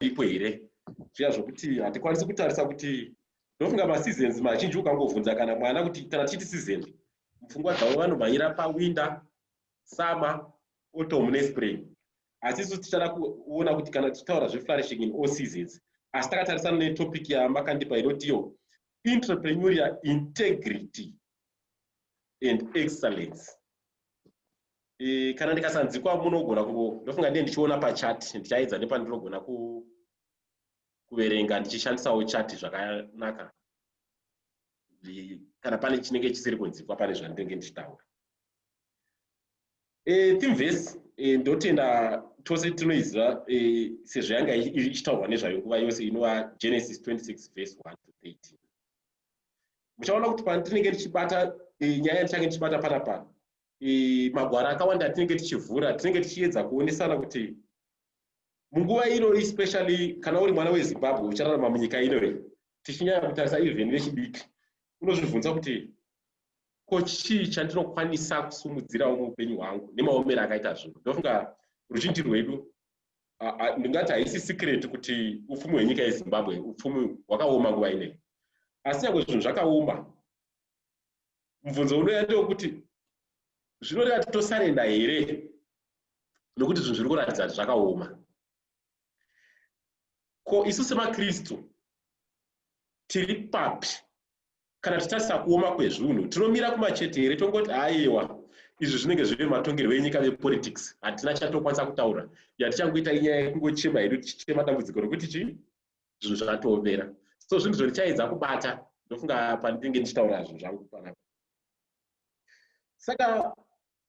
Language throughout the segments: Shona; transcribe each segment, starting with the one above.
ipo here zviya zvokuti hatikwanisi kutarisa kuti ndofunga maseasons mazhinji ukangovhunza kana mwana kuti kana tichiti season mupfungwa dzavo vanomhanyira pawinda summer autumn nespring asi isu tichada kuona kuti kana tichitaura zveflourishing in all seasons asi takatarisana netopic yamakandipa inotiyo entrepreneuria integrity and excellence e, kana ndikasanzikwa munogona kungo ndofunga ndiye ndichiona pachat ndichaedza nepandinogona ku kuverenga ndichishandisawo chat zvakanaka kana pane chinenge chisiri kunzikwa pane zvandinenge ndichitaura e, eh, timves e, eh, ndotenda tose tinoiziva e, sezvo yanga ichitaurwa nezvayo nguva yose inova genesis 26 vese 1 to 13 muchaona kuti pandinenge ndichibata eh, nyaya ndichange ndichibata pana pana eh, magwara akawanda atinenge tichivhura tinenge tichiedza kuonesana kuti munguva ino especially kana uri mwana wezimbabwe uchararama munyika ino iyi tichinyaya kutarisa even vechidiki unozvibvunza kuti ko chii chandinokwanisa kusumudzirawo muupenyu hwangu nemaomero akaita zvinhu ndofunga ruzhinji rwedu ndingati haisi secret kuti upfumi hwenyika yezimbabwe upfumi hwakaoma nguva inei asi nyangwe zvinhu zvakaoma mubvunzo unoya ndewekuti zvinoreva kuti tosarenda here nokuti zvinhu zviri kuratidza kuti zvakaoma ko isu semakristu tiri papi kana tichitarisa kuoma kwezvunhu tinomira kumachete here tongoti aiwa izvi zvinenge zviri matongerwo enyika vepolitics hatina chatokwanisa kutaura yatichangoita inyaya yekungochema hedu tichichema dambudziko rokuti chii zvinhu zvatoomera so zvinhu zvondichaedza kubata ndofunga pandinenge ndichitaura zvinhu zvangu panapa saka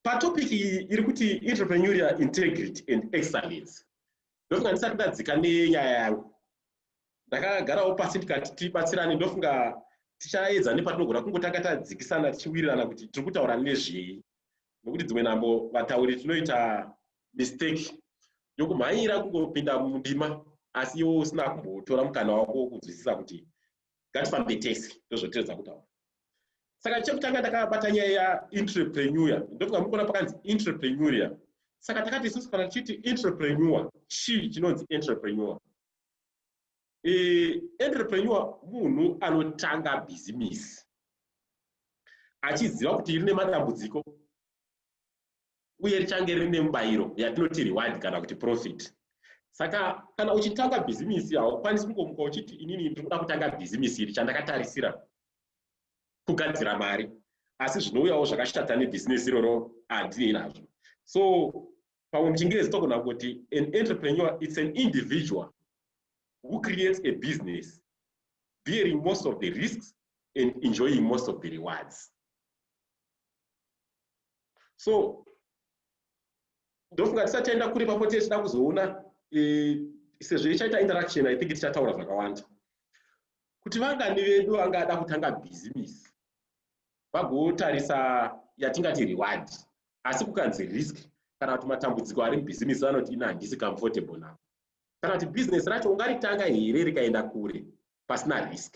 patopic iyi iri kuti entrepreneuria integrity and excellence ndofunga ndisati ndadzika nenyaya yangu ndakagarawo pasi ndikati tibatsirane ndofunga tichaedza nepatinogona kungotanga tadzikisana tichiwirirana kuti tiri kutaura nezvei nokuti dzimwe nhambo vatauri tinoita mistake yokumhanyira kungopinda mundima asi iwo usina kumbotora mukana wako wokunzwisisa kuti ngatifambe tese ndozvotiredza kutaura saka chekutanga ndakabata nyaya yaentrepreneur ndokuti kamukona pakanzi entrepreneur saka takati isusu kana tichiti entrepreneur chii chinonzi entrepreneur e, entrepreneur munhu anotanga bhizimisi achiziva kuti rine matambudziko uye richange rine mubayiro yatinoti reward kana kuti profit saka kana uchitanga bhizimisi haukwanisi kungomuka uchiti inini ndiri kuda kutanga bhizimisi iri chandakatarisira kugadzira mari asi zvinouyawo zvakashata nebhizinesi iroro handinei nazvo so pamwe muchingezi togona kuti an entrepreneur its an individual who creates a business bearing most of the risks and enjoying most of the rewards so ndofunga tisati taenda kure papo tee tichida kuzoona e, sezvo ichaita interaction i think tichataura zvakawanda kuti vangani vedu vangada kutanga bhizimisi vagotarisa yatingati reward asi kukanzi risk kana kuti matambudziko ari mubhizimisi vanoti ina handisi comfortable now kana kuti bhizinesi racho ungaritanga here rikaenda kure pasina risk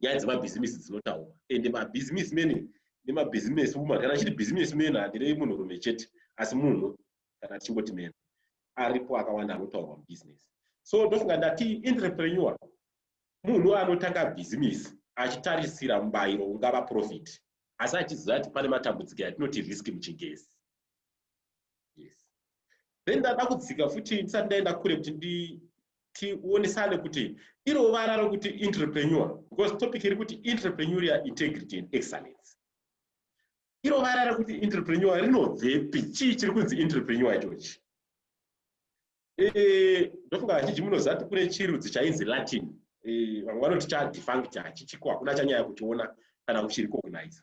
nyaya dzemabhizimisi dzinotaurwa and mabhizimisi mene nemabhizimisi woman kana chiri bhizimisi mene handirei munhurume chete asi munhu kana tichingoti mene aripo akawanda anotaurwa mubhizinesi so ndofunga ndati entrepreneur munhu anotanga bhizimisi achitarisira mubayiro ungava profit asi achiziva kuti pane matambudziko yatinoti risk muchingezi yes then ndada kudzika futi ndisati ndaenda kure kuti ndi tionesane kuti iro vara rokuti entrepreneur because topic iri kuti entrepreneuria integrity and excellence iro vara rokuti entrepreneur rinobvepi chii chiri kunzi entrepreneur ichochi eh, ndofunga vazhinji munozati kune chirudzi chainzi latin eh, vamwe vanoti chadefunct hachichiko hakuna chanyaya kuchiona kana kuchirikogniza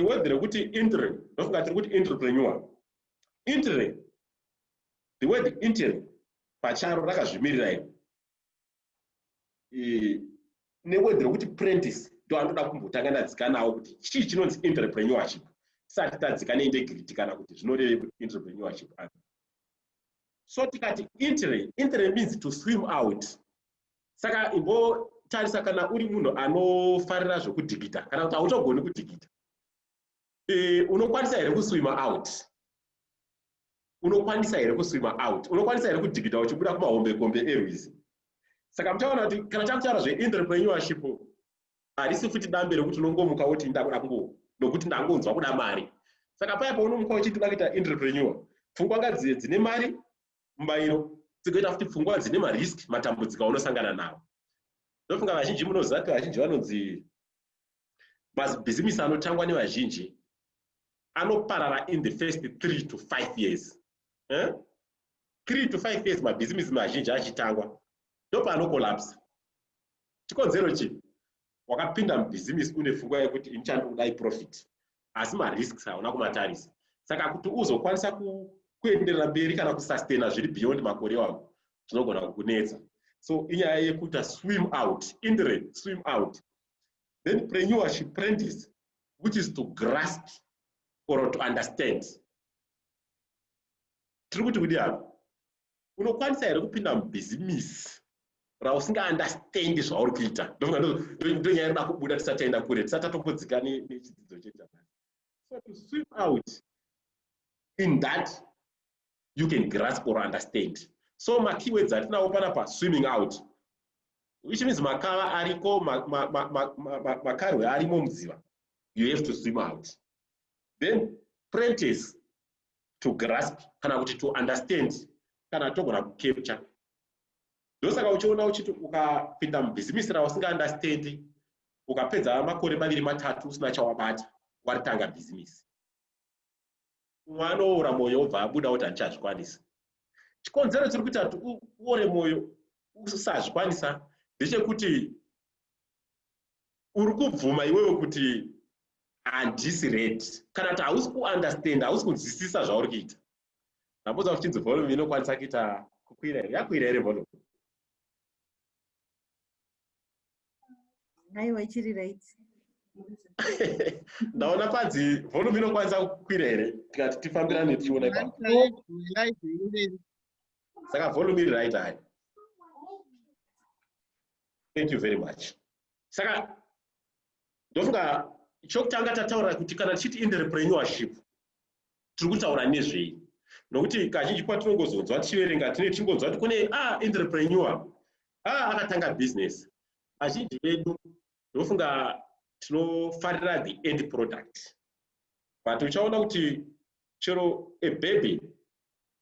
word rekuti intre ndofunga tiri kuti entrepreneur intre the word intre pacharo rakazvimirira iri neword rekuti prentice ndo anoda kumbotanga ndadzika nawo kuti chii chinonzi entrepreneurship tisati tadzika neintegrity kana kuti zvinorevei kuti entrepreneurship so tikati intre intre means to swim out saka imbotarisa kana uri munhu anofarira zvokudhigita kana kuti hautogoni kudhigita e, unokwanisa here kuswima out unokwanisa here kuswima out unokwanisa here kudhigita uchibuda kumahombekombe erwizi saka muchaona kuti kana takutaura zveenterpreneurship harisi futi dambe rekuti unongomuka woti ndakuda kungo nokuti ndangonzwa kuda mari saka paya paunomuka uchiti uda kuita entrepreneur pfungwa ngadzive dzine mari mubayiro tsigoita futi pfungwa dzine marisk matambudziko aunosangana nawo ndofunga vazhinji munoziva kuti vazhinji vanonzi mabhizimisi anotangwa nevazhinji anoparara in the first three to five years eh? three to five years mabhizimisi mazhinji achitangwa ndopanokolapsa chikonzero chii wakapinda mubhizimisi une fungwa yekuti ini chandikuda iprofit asi marisks hauna kumatarisa saka kuti uzokwanisa kuenderera mberi kana kusustaina zviri beyond makore wavo zvinogona kukunetsa so inyaya yekuita swim out indre swim out then preneurship prentice which is to grasp or to understand tiri kuti kudi apa unokwanisa here kupinda mubhizimisi rausinga understand zvauri kuita ndonyaya rida kubuda tisati taenda kure tisati tatombodzika nechidzidzo chejamani so to swim out in that you can grasp or understand so makeywords atinawo pana pa swimming out which means makava ariko makarwe arimo muziva you have to swim out then prentice to grasp kana kuti to understand kana togona kucapture ndosaka uchiona uchiti ukapinda mubhizimisi rausingaunderstandi ukapedza makore maviri matatu usina chawabata waritanga bhizimisi umwe anoora mwoyo obva abuda kuti handichazvikwanisa chikonzero chiri kuita kuti uore mwoyo usazvikwanisa ndechekuti uri kubvuma iwewe kuti handisi red kana kuti hausi kuunderstand hausi kunzwisisa zvauri kuita ndambudza kuchinzi volume inokwanisa kuita kukwira here yakwira here volume aiwa ichiri right ndaona panzi volume inokwanisa kukwira here tikati tifambirane tichiona saka volume iri right hai thank you very much saka ndofunga chokutanga tataura kuti kana tichiti entrepreneurship tiri kutaura nezvei nokuti kazhinji kwatinongozonzwa tichiverenga tine tichingonzwa kuti kune a ah, entrepreneur a ah, akatanga business azhinji vedu ndofunga tinofarira the end product but uchaona kuti chero a baby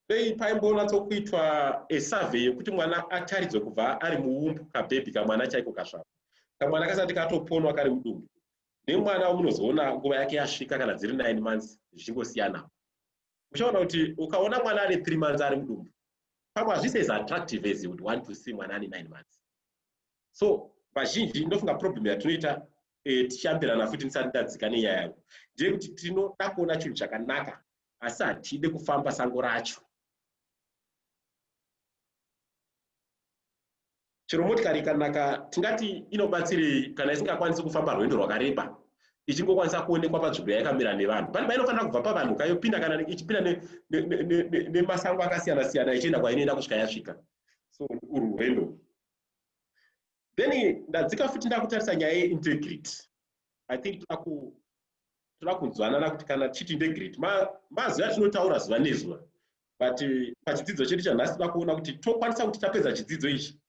dei paimbonatsokuitwa a survey yekuti mwana ataridzwe kubva ari muumbu kabhebhi kamwana chaiko kasvava kamwana kasati katoponwa kari mudumbu nemwana umunozoona nguva yake yasvika kana dziri nine months zvichingosiyana uchaona kuti ukaona mwana ane three months ari mudumbu pamwe hazvisi as attractive as would want to see mwana ane nine months so vazhinji ndofunga problem yatinoita eh, tichiambirana futi ndisati ndadzika nenyaya yangu ndeyekuti tinoda kuona chinhu chakanaka asi hatide kufamba sango racho chero motikari ikanaka tingati inobatsirei kana isingakwanisi kufamba rwendo rwakareba ichingokwanisa kuonekwa panzvimbo yaikamira nevanhu pane painofanira kubva pavanhu kayopinda kana ichipinda nemasango akasiyana siyana ichienda kwainoenda kusvika yasvika so urwu rwendo then ndadzika futi ndakutarisa nyaya yeintegrity i think taku toda kunzwanana kuti kana tichiti integrity mazuva atinotaura zuva nezuva but eh, pachidzidzo chedu chanhasi toda kuona kuti tokwanisa kuti tapedza chidzidzo ichi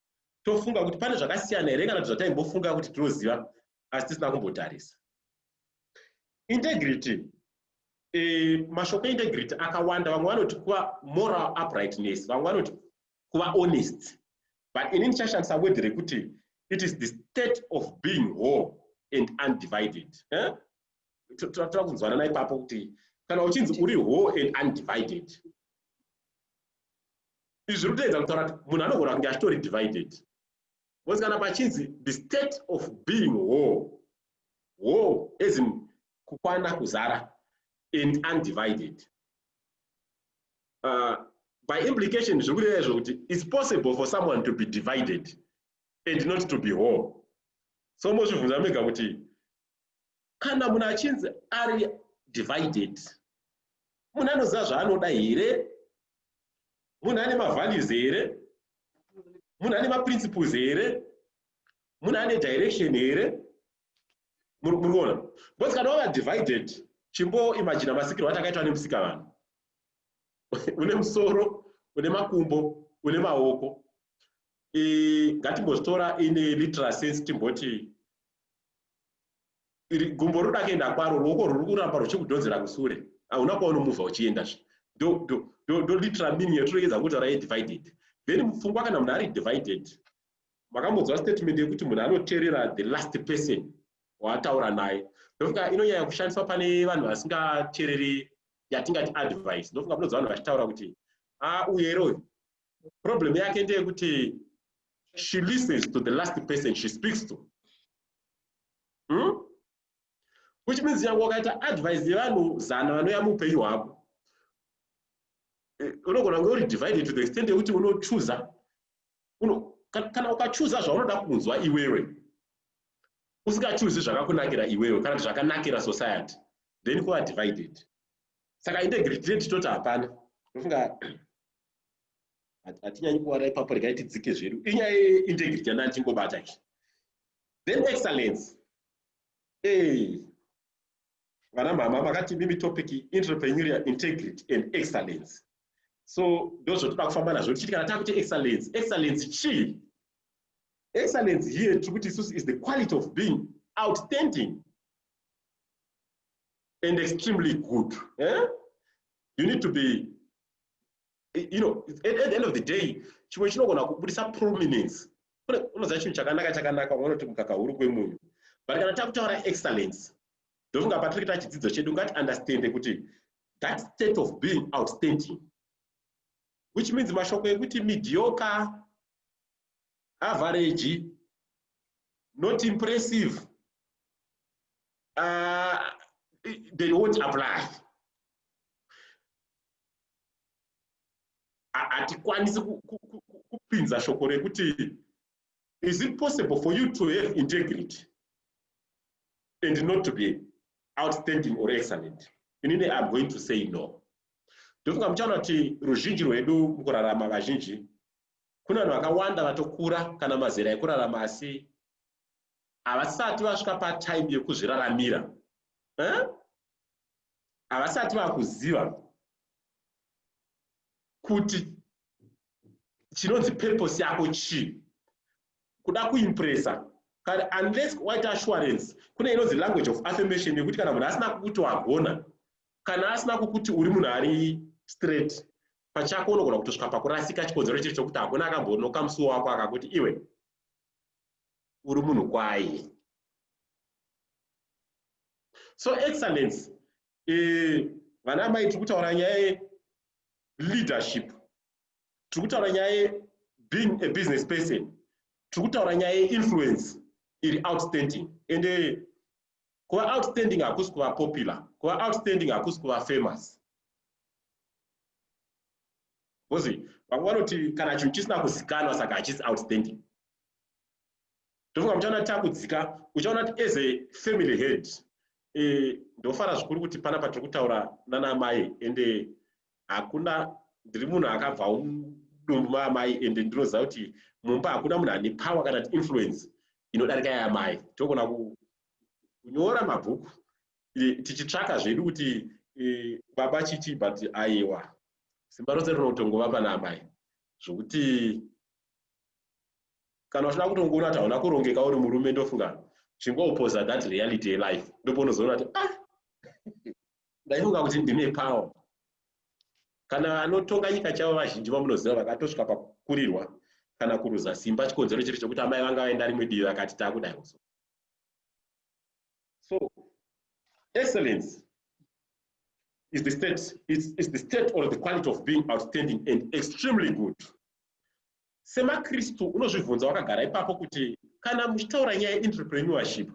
tofunga kuti pane zvakasiyana here kana kuti zvataimbofunga kuti tinoziva asi tisina kumbotarisa integrity eh, mashoko eintegrity akawanda vamwe vanoti kuva moral uprightness vamwe vanoti kuva honest but ini ndichashandisa word rekuti it is the state of being whole and undivided eh? tava kunzwanana ipapo kuti kana uchinzi uri whole and undivided izvi zviri kutoedza kutaura kuti munhu anogona kunge achitori divided bcause kana pachinzi the state of being whole whole as in kukwana kuzara and undivided uh, by implication zviri kureva izvo kuti its possible for someone to be divided and not to be whole so mozvibvunza mega kuti kana munhu achinzi ari divided munhu anoziva zvaanoda here munhu ane mavalues here munhu ane maprinciples here munhu ane direction here muri kuona because kana wava divided chimbo imagina masikirwo atakaitwa nemusika vanhu une musoro une makumbo une maoko ngatimbozvitora in literal sense timboti gumbo riri kuenda kwaro ruoko ruri kuramba ruchikudhonzera kusure hauna kwaunomuvha uchienda zve ndo literal meaning yatiregedza kutaura yedivided then mupfungwa kana munhu ari divided makambonzwa statement yekuti munhu anoteerera the last person waataura naye ndofunga inonyanya kushandiswa pane vanhu vasingateereri yatingati advice ndofunga munonzwa vanhu vachitaura kuti ah uyu here uyu problem yake ndeyekuti she listens to the last person she speaks to hmm? which means yangu wakaita advice yevanhu zana vanouya muupenyu hwako eh, unogona kunge uri divided to the extent yekuti unochuza kana ukachuza zvaunoda kunzwa iwewe usingachuzi zvakakunakira iwewe kana kuti zvakanakira society then kuva divided saka integrity rate toti hapana ndofunga hatinyanyi kuwara ipapo regai tidzike zvedu inyaya yeintegrity yandani tingobata izvi then excellence ee vana mama makati mimi topic entrepreneuria integrity and excellence so ndozvotoda kufamba nazvo tichiti kana takuti excellence excellence chii excellence here tiri kuti isusu is the quality of being outstanding and extremely good. Eh? You need to be, you know, at, at the end of the day, chimwe chinogona kubudisa prominence. Unoziva chinhu chakanaka chakanaka unoti mukaka huru kwemunhu. But kana takutaura excellence, ndofunga patiri kuita chidzidzo chedu ngati understand kuti that state of being outstanding which means mashoko ekuti mediocre average not impressive uh, they won't apply hatikwanisi kupinza shoko rekuti is it possible for you to have integrity and not to be outstanding or excellent inini iam going to say no ndofunga muchaona kuti ruzhinji rwedu mukurarama vazhinji kune vanhu vakawanda vatokura kana mazera ekurarama asi havasati vasvika patime yekuzviraramira eh? havasati vakuziva kuti chinonzi purpose yako chii kuda kuimpresa kana unless waita assurance kune inonzi language of affirmation yekuti kana munhu asina kukuti wagona kana asina kukuti uri munhu ari straight pachako unogona kutosvika pakurasika chikonzero chiri chokuti hakuna akambonoka musuwo wako akakuti iwe uri munhu kwayi so excellence eh, vana e, amai tiri kutaura nyaya yeleadership tiri kutaura nyaya yebeing a business person tiri kutaura nyaya yeinfluence iri outstanding ende kuva outstanding hakusi kuva popular kuva outstanding hakusi kuva famous because vamwe vanoti kana chinhu chisina kuzikanwa saka hachisi outstanding ndofunga muchaona kuti takudzika uchaona kuti as a family head eh, ndofara zvikuru kuti panapa tiri kutaura nana mai ende hakuna ndiri munhu akabva mudumbu maamai and ndinoziva kuti mumba hakuna munhu ane power kana kuti influence inodarika yaamai togona kunyora mabhuku tichitsvaka zvedu kuti e, baba chichi but aiwa simba rose rinotongova pana amai zvokuti kana uchida kutongoona kuti hauna kurongeka uri murume ndofunga chingopoza that reality yelife ndopounozoona kuti ah ndaifunga kuti ndine power kana vanotonga nyika chavo vazhinji vamunoziva vakatosvika pakukurirwa kana kuruza simba chikonzero chiri chokuti amai vanga vaenda rimwe divi vakati takudai kuzo so excellence is the state is, is the state or the quality of being outstanding and extremely good SemaKristu, unozvibvunza wakagara ipapo kuti, Kana muchitaura nyaya yeenterpreneurship,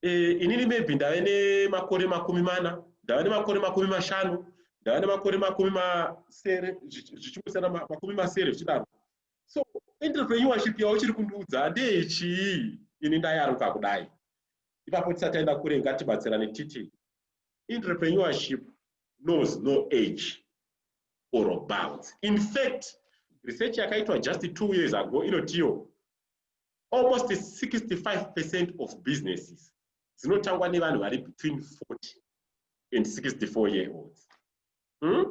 eh, inini maybe ndave nemakore makumi mana, ndava nemakore makumi mashanu, ndava nemakore makumi masere, zvichingosiyana makumi masere zvichidaro. So entrepreneurship yauchiri kundiudza ndeyechii? Ini ndayaruka kudai. Ipapo tisati taenda kure, ngatibatsirane titi entrepreneurship knows no age. or bounds. In fact, research yakaitwa just two years ago inotiwo almost 65 percent of businesses dzinotangwa nevanhu vari between 40 and 64 year olds hmm?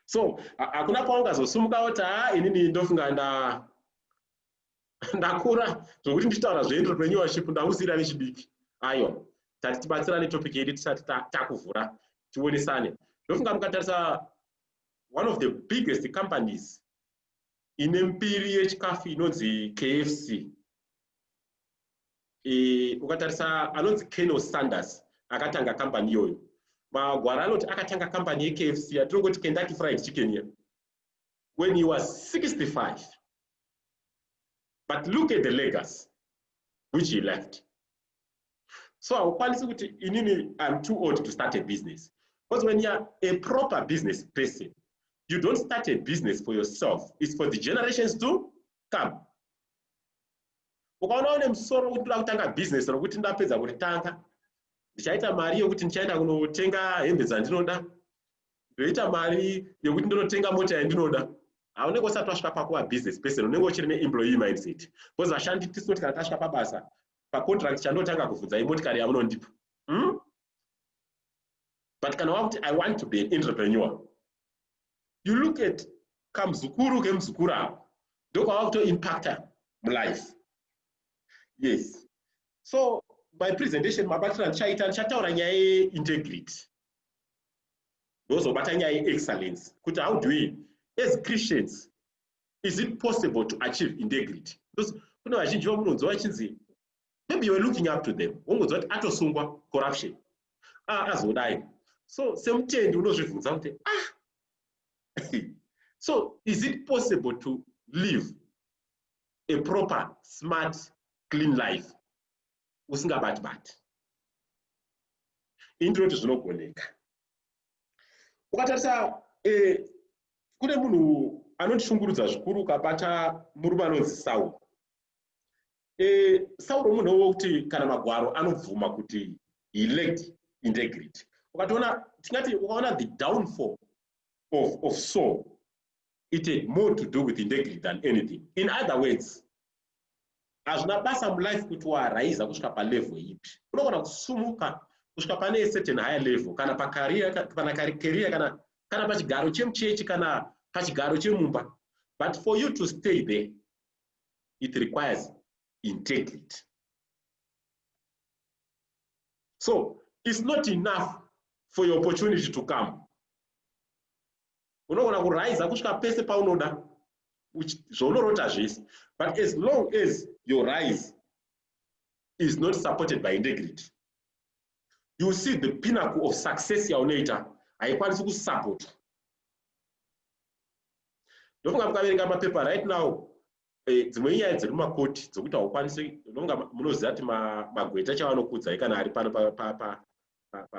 so hakuna kwaungazosumuka woti haa inini ndofunga ndakura zvokuti ndichitaura zvenyu renewership ndakusiira nechidiki ayo tati tibatsirane topic yedu tisati takuvhura tionesane ndofunga mukatarisa one of the biggest companies ine mbiri yechikafu inonzi kfc e, ukatarisa anonzi keno sanders akatanga kambani iyoyo magwara anoti akatanga kambani yekfc yatinongoti kendaki fried chicken iya when he was 65. But look at the legacy which he left. So haukwanisi kuti inini I'm too old to start a business. Because when you're a proper business person, you don't start a business for yourself. It's for the generations to come. ukaona une musoro wekuti ndoda kutanga bhizinesi rokuti ndapedza kuritanga ndichaita mari yokuti ndichaenda kunotenga hembe dzandinoda ndoita mari yekuti ndonotenga mota yandinoda haunenge usati wasvika pakuva business person unenge uchiri neemployee mindset bcause vashandi tisinoti kana tasvika pabasa pacontract chandotanga kuvhunza imotikari yamunondipa hmm? but kana wakuti i want to be an entrepreneur you look at kamuzukuru kemuzukuru avo ndokwava kutoimpacta mulife yes so my presentation mabatira ndichaita ndichataura nyaya yeintegrity ndozobata nyaya yeexcellence kuti how do we as christians is it possible to achieve integrity because kune vazhinji vamunonzwa vachinzi maybe youare looking up to them wongonzwa kuti atosungwa corruption ah, azodai so semutendi unozvibvunza kuti ah so is it possible to live a proper smart clean life usingabati bati ini ndinoti zvinogoneka ukatarisa eh, kune munhu anondishungurudza zvikuru ukabata murume anonzi sauro eh, sauro munhu wokuti kana magwaro anobvuma kuti he lacked integrity ukatoona tingati ukaona the downfall of, of soul it had more to do with integrity than anything in other words hazvina basa mulife kuti waraiza kusvika palevel ipi unogona kusumuka kusvika pane certain higher level kana pacareer kana career kana kana pachigaro chemuchechi kana pachigaro chemumba but for you to stay there it requires integrity so it's not enough for your opportunity to come unogona kuraiza kusvika pese paunoda zvaunorota zvese but as long as your rise is not supported by integrity you see the pinnacle of success yaunoita haikwanisi kusupportwa ndofunga mukaverenga mapepa right now eh, dzimwe inyaya dziri mumakoti dzokuti haukwanisi unonga munoziva kuti magweta chavanokudzai kana ari pano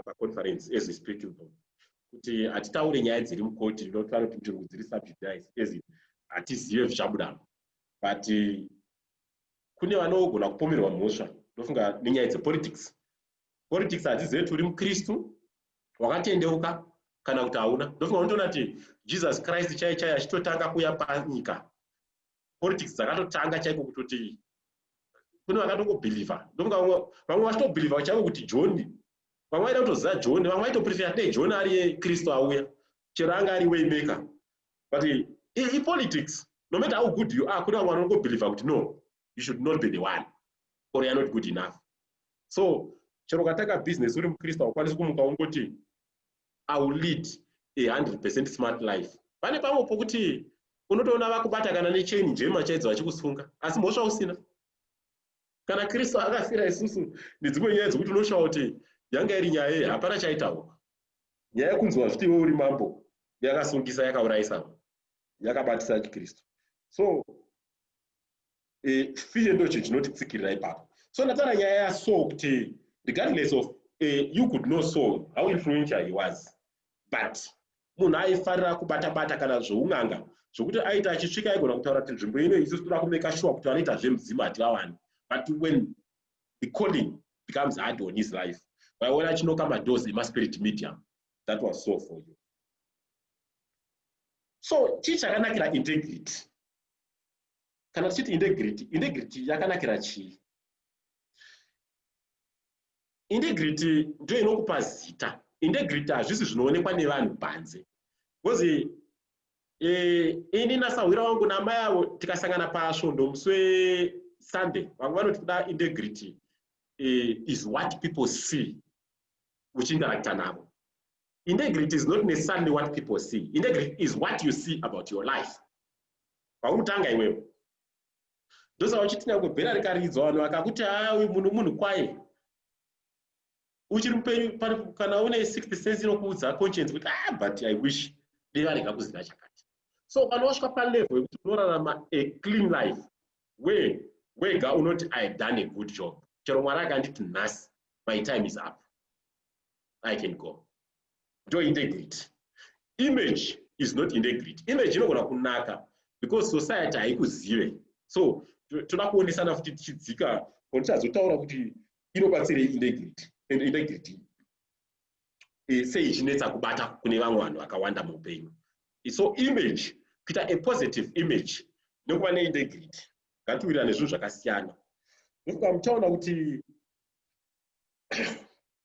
paconference as speakable kuti hatitaure nyaya dziri mukoti not vanoti ntungu dziri subjudice as hatizive zvichabudamo but eh, kune vanogona kupomerwa mhosva ndofunga nenyaya dzepolitics politics hadzizive kuti uri mukristu wakatendeuka kana kuti hauna ndofunga unotoona kuti jesus christ chai chai achitotanga kuuya panyika politics dzakatotanga chaiko kutoti kune vakatongobhilivha ndofunga vamwe vachitobhilivha chaiko kuti joni vamwe vaida kutoziva joni vamwe vaitoprefera dei joni ari kristu auya chero anga ari waymaker but ipolitics no matter how good you are kune vamwe vanongobhilivha kuti no you should not be the one or you're not good enough so chero ukatanga business uri mukristu haukwanisi kumuka ungoti i will lead a 100 percent smart life pane pamwe pokuti unotoona vakubata kana nechain njema chaidzo vachikusunga asi mhosva usina kana kristu akafira isusu nedzimwe nyaya dzekuti unoshawa kuti yanga iri nyaya yei hapana chaitaurwa nyaya yekunzwa zviti iwe uri mambo yakasungisa yakaurayisa yakabatisa chikristu so eh, fear ndocho chinotitsikirira ipapo so ndataura nyaya yaso kuti regardless of eh, you could know so how influential he was but munhu aifarira kubata bata kana zvoun'anga zvokuti aita achisvika aigona kutaura kuti nzvimbo ino isusu toda kumeka shuwa kuti vanoita zvemudzimu hativawani but when the calling becomes hard on his life waiona achinoka madoors emaspirit medium that was so for you so chii chakanakira integrity kana tichiti integrity integrity yakanakira chii integrity ndiyo inokupa zita integrity hazvisi zvinoonekwa nevanhu panze bcause eh, ini nasahwira wangu namai avo tikasangana pasvondo musi wesunday vamwe vanoti kuda integrity eh, is what people see uchiinteracta navo integrity is not necessarily what people see integrity is what you see about your life pauri kutanga iwewe ndosaka uchiti nyangwe bhera rikaridzwa vanhu vakakuti haa uyu munhu munhu kwaye uchiri mupenyu kana une sixth sense inokuudza conscience kuti ah but i wish dei varega kuziva chakati so kana wasvika palevel yekuti unorarama a clean life we wega unoti i have done a good job chero mwari akanditi nhasi my time is up i can go ndo integrity image is not integrity image inogona kunaka because society haikuzive so toda kuonesana futi tichidzika or tichazotaura kuti inobatsirei integrity and integrity eh, sei ichinetsa kubata kune vamwe vanhu vakawanda muupenyu so image kuita a positive image nekuva neintegrity ngatiwirira nezvinhu zvakasiyana nekuti kuti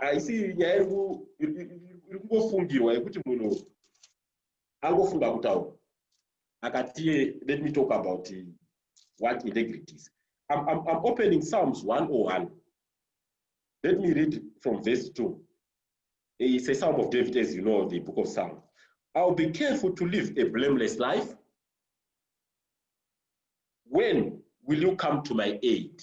haisi nyaya iri kungofungirwa yekuti munhu angofunga kutaura akati let me talk about eh, what integrity is I'm, I'm, I'm opening psalms 101 let me read from verse 2 it's a psalm of david as you know the book of psalm i'll be careful to live a blameless life when will you come to my aid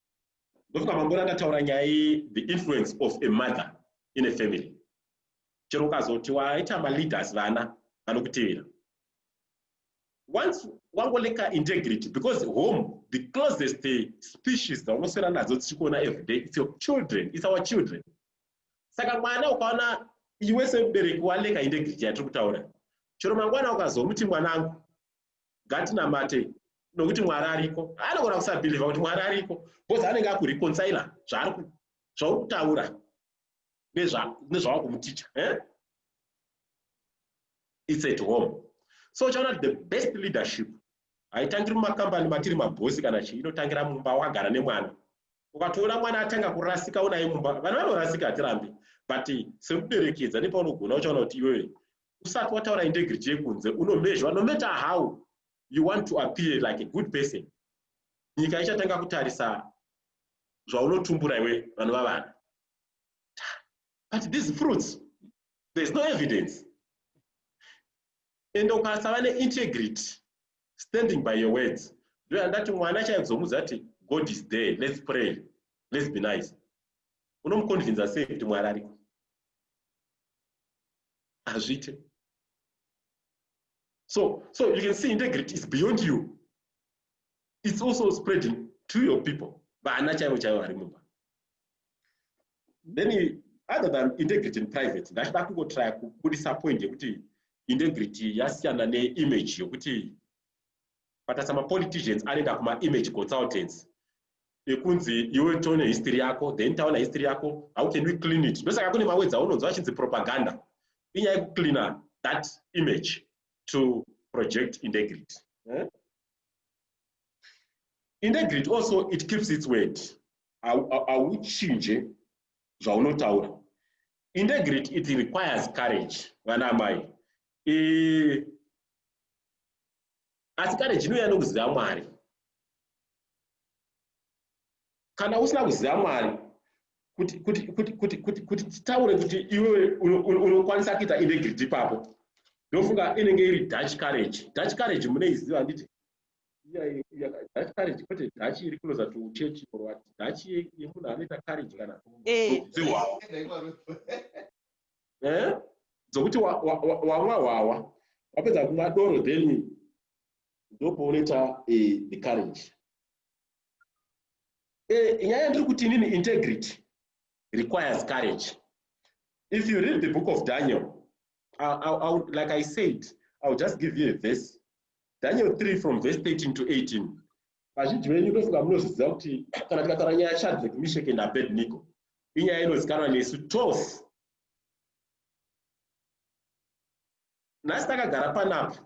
ndofunga mangona ndataura nyaya iyi the influence of a mother in a family chero ukazoti waita maleaders vana vanokutevera once wangoleka integrity because home the closest species dzaunoswera nadzo tichikuona every day its your children its our children saka mwana ukaona iwe semubereki waleka integrity yatiri kutaura chero mangwana ukazomuti mwanangu ngatinamatei nokuti mwari ariko anogona kusabhilivha kuti mwari ariko bcause anenge akureconcila zvauri kutaura nezvava kumuticha eh? its at home so uchaona kuti the best leadership haitangiri mumakambani matiri mabhosi kana chii inotangira mumba wakagara nemwana ukatoona mwana atanga kurasika unaye mumba vana vanorasika hatirambi but sekuberekedza nepaunogona uchaona kuti iwewe usati wataura integrity yekunze unomezhwa no matter how you want to appear like a good person nyika ichatanga kutarisa zvaunotumbura iwe vanova vana but these fruits there's no evidence ende ukasava neintegrity standing by your words ndoyandati mwana chaizomudza kuti god is there let's pray let's be nice unomuconvinza sei kuti mwari ariko hazviite so so you can see integrity is beyond you it's also spreading to your people vana chaivo chaivo vari mumba then other than integrity in private ndachida kungotraya kubudisa point yekuti integrity yasiyana neimage yokuti Patarisa mapoliticians anoenda kumaimage consultants ekunzi iwe tione history yako then taona history yako how can we clean it ndosaka kune mawedzi aunonzwa achinzi propaganda inyaya yekucleana that image to project integrity eh? integrity also it keeps its word hauchinje zvaunotaura integrity it requires courage vana amai asi kare jinouya nokuziva mwari kana usina kuziva mwari kuti titaure kuti iwe unokwanisa kuita integrity ipapo ndofunga inenge iri dutch courage dutch courage muneiziva handiti dutch courage kwete dutch iri kunoza to church or what dutch yemunhu anoita courage kana eh. eh? dzokuti wamwa hwawa wapedza kumwa doro then ndopounoita eh, the courage eh, nyaya yandiri kuti inini integrity requires courage if you read the book of daniel I, I, I would, like i said i will just give you a verse daniel 3 from verse 13 to 18 vazhinji venyu ndofunga munozviziva kuti kana tikataura nyaya yashadrek mishek and abednico inyaya inozikanwa nesu tose nhasi takagara panapa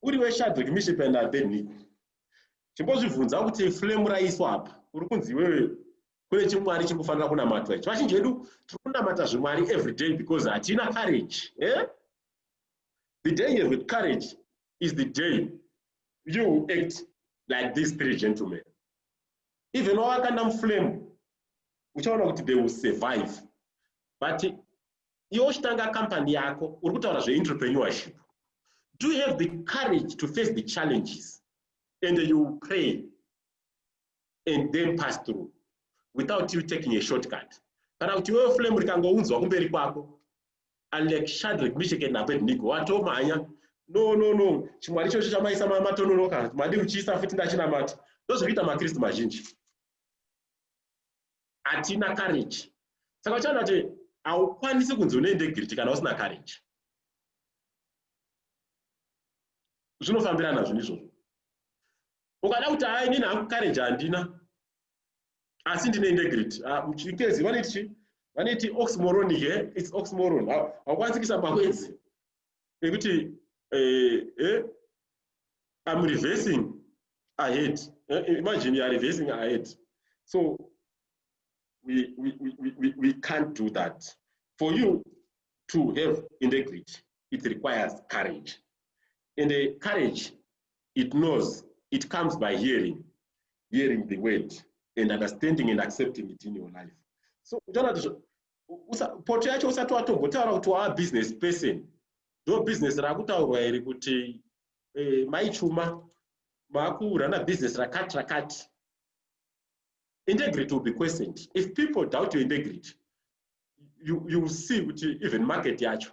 uri weshadhoki mishepanda beniko chimbozvibvunza kuti flame raiswa apa uri kunzi iwewe kune chimwari chiri kufanira kunamatwa ichi vazhinji vedu tiri kunamata zvimwari everyday because hatina courage eh? the day you have courage is the day you act like these three gentlemen even wavakanda muflame uchaona kuti they will survive but iwe uchitanga company yako uri kutaura zveenterpreneurship do you have the courage to face the challenges and you will pray and then pass through without you taking a shortcut kana kuti iwewe flame rikangounzwa kumberi kwako Aleck Shadrick Misheke naAbednego watomhanya no no no chimwari ichocho chamaisa matononoka madi kuchiisa futi ndachinamata ndozvikuita makristu mazhinji hatina courage saka uchaona kuti haukwanisi kunzi une integrity kana usina courage zvinofambirana zvinhu izvozvo ukada kuti hai nini hangu courage handina asi ndine integrity ah, chikezi vanoti chi vanoti oxmoron here its oxmoron haukwanisi kuisa mawedzi ekuti eh, eh, am reversing ahead eh, imagine youare reversing ahead so we, we, we, we, we can't do that for you to have integrity it requires courage and uh, courage it knows it comes by hearing hearing the word and understanding and accepting it in your life so uchaona kuti poto yacho usati watombotaura kuti waa business person ndo business rakutaurwa iri kuti eh, mai chuma vakurana business rakati rakati integrity will be questioned if people doubt your integrity you, you will see kuti even market yacho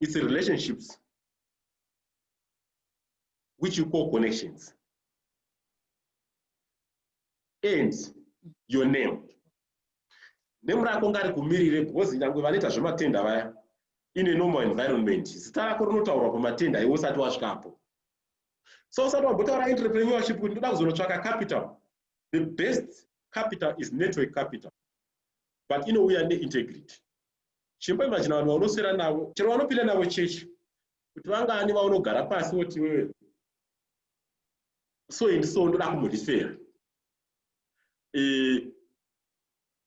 It's relationships which you call connections. And your name. Name rako ngari kumirire because nyangwe vanoita zvematenda vaya in a normal environment zita rako rinotaurwa pamatenda iwe usati wasvikapo so usati wambotaura entrepreneurship kuti ndoda kuzonotsvaka capital the best capital is network capital but inouya neintegrity chimboimajina vanhu vaunoswera navo chero vanopinda navo chechi kuti vangani vaunogara pasi voti wewe so ini so ndoda kumudisera eh,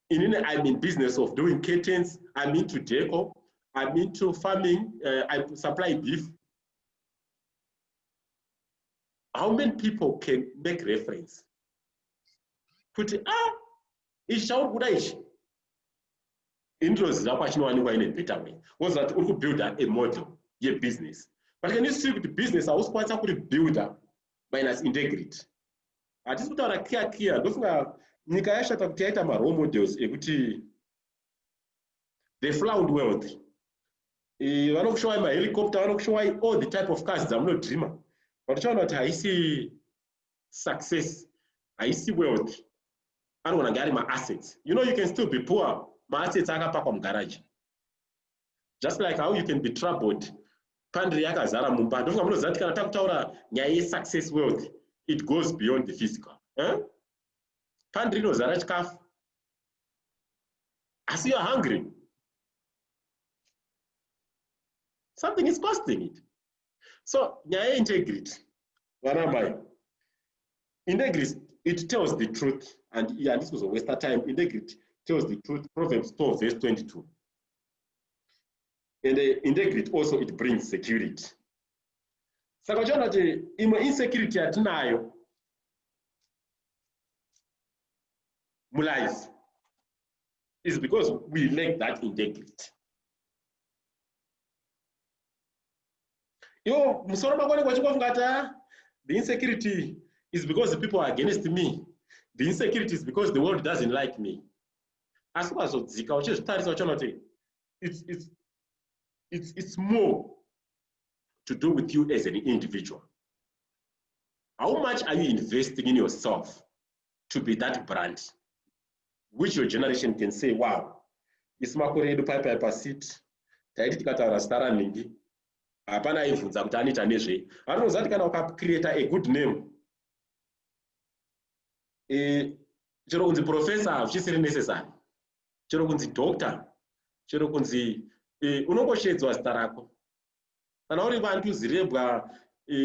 inini i'm in business of doing curtains i'm into deco i'm into farming uh, i supply beef how many people can make reference kuti ah ichi chauri kuda ichi ini ndinoziva kwachinowanikwa ine better way woziva kuti uri kubuilda a model yebusiness but can you see kuti business hausi kwanisa kuri builda minus integrity hatisi kutaura clear clear ndofunga nyika yashata kuti yaita marole models ekuti the flound world vanokushowai mahelicopter vanokushowai all the type of cars dzamunodreamer but uchaona kuti haisi success haisi wealth anogona kunge ari maassets you know you can still be poor maassets akapakwa mugaraji just like how you can be troubled pandiri yakazara mumba ndofunga munoziva kuti kana takutaura nyaya yesuccess wealth it goes beyond the physical eh? pandiri inozara chikafu asi you're hungry something is costing it so nyaya yeintegrity vana mai integrity it tells the truth and handisi kuzowasta time integrity tells the truth proverbs 12 verse 22 and uh, integrity also it brings security saka uchiona kuti imwe insecurity yatinayo mulife is because we lack that integrity Yo, musoro mako unenge uchingofunga kuti ah, the insecurity is because people are against me. The insecurity is because the world doesn't like me. Asi ukazodzika uchizvitarisa uchiona kuti it's, it's, it's, it's more to do with you as an individual. How much are you investing in yourself? to be that brand which your generation can say wow isu makore edu pai pai pasiti taiti tikataura zita ranhingi hapana aibvunza kuti anoita nezvei anoziva kuti kana ukacreata a good name e, chero kunzi professor hazvisiri necessary chero kunzi doctor chero kunzi e, unongoshedzwa zita rako kana uri vantu zirebwa e,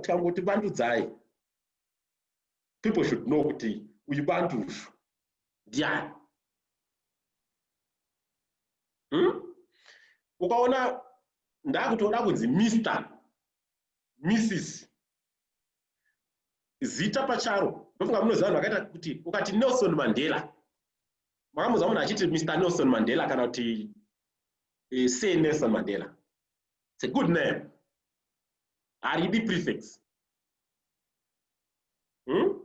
tikangoti vandudzai people should know kuti uyu bantu uyu ndiani hmm? ukaona ndakutoda kunzi mister mrs zita pacharo ndofunga munoziva vanhu vakaita kuti ukati nelson mandela makamuza munhu achiti mr nelson mandela kana kuti eh, se nelson mandela it's a good name haridi prefix hmm?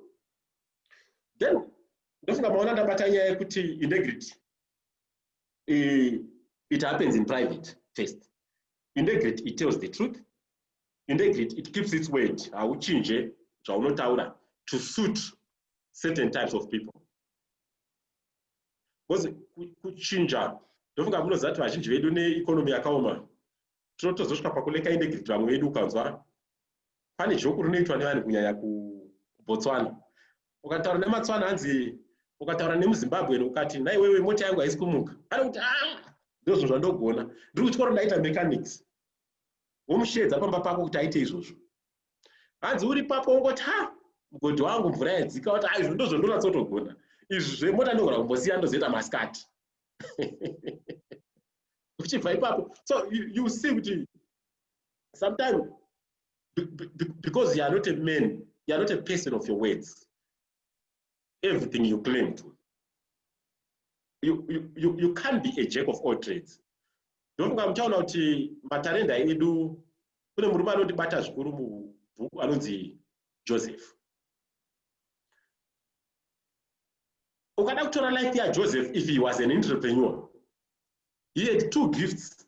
then ndofunga maona ndabata nyaya yekuti integrity it happens in private first integrity it tells the truth integrity it keeps its word hauchinje zvaunotaura to suit certain types of people because kuchinja ndofunga munoziva kuti vazhinji vedu neekonomi yakaoma tinotozosvika pakuleka indegrity vamwe vedu ukanzwa pane joku rinoitwa nevanhu kunyanya kubotswana ukataura nematswana hanzi ukataura nemuzimbabwen ukati naiwewe mota yangu haisi kumuka anokuti ah, ndozvo zvandogona ndiri kuchikoro ndaita mechanics womusheedza pamba pako kuti aite izvozvo hanzi uri papo ungoti ha mugodi wangu mvura yadzika wati aizvo ndozvondonatsotogona izvi zvemota ndogona kumbosiya ndozoita masikati uchibva ipapo so you, you see kuti sometimes because you are not a man you are not a person of your words everything you claim to you, you, you, you can't be a jack of all trades ndofunga muchaona kuti matarenda edu kune murume anondibata zvikuru mubhuku anonzi joseph ukada kutora life yajoseph if he was an entrepreneur he had two gifts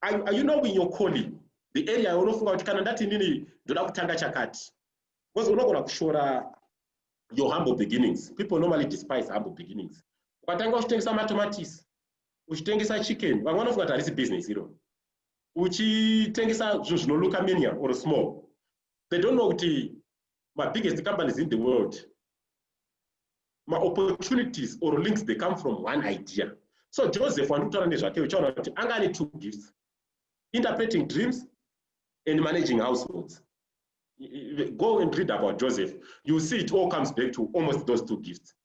are, are you knowing your calling the area yaunofunga kuti kana ndati inini ndoda kutanga chakati because unogona kushora your humble beginnings people normally despise humble beginnings ukatanga uchitengesa matomatisi uchitengesa chicken vamwe vanofunga kuti harisi business iro uchitengesa zvinhu zvinoluka minium or small they don't know kuti mabiggest companies in the world maopportunities or links they come from one idea so joseph wandikutaura nezvake uchaona kuti anga ane two gifts interpreting dreams and managing households go and read about joseph you see it all comes back to almost those two gifts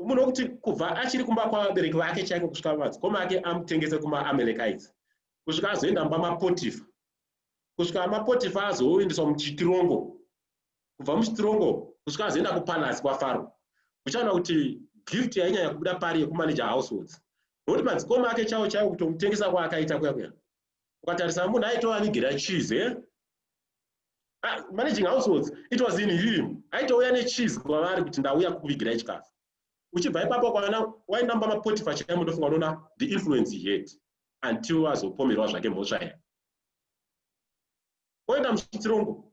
munhu wekuti kubva achiri kumba kwavabereki vake chaiko kusvika madzikoma ake amutengese kumaamelekaites kusvika azoenda mba mapotifa kusvika mapotifa azoendeswa muchitirongo kubva muchitirongo kusvika azoenda kupalace kwafaro uchaona kuti gift yainyanya kubuda pari yekumanager households nokuti madzikoma ake chavo chaivo kutomutengesa kwaakaita kuya kuya ukatarisa munhu aitovanigera cheese eh? Ah, managing households it was in him aitouya necheese kwavari kuti ndauya kukuvigirai chikafu uchibva ipapo kwana wainamba mapotifa chaimo ndofunga unoona the influence he had until azopomerwa zvake mhosva iya oenda muchirongo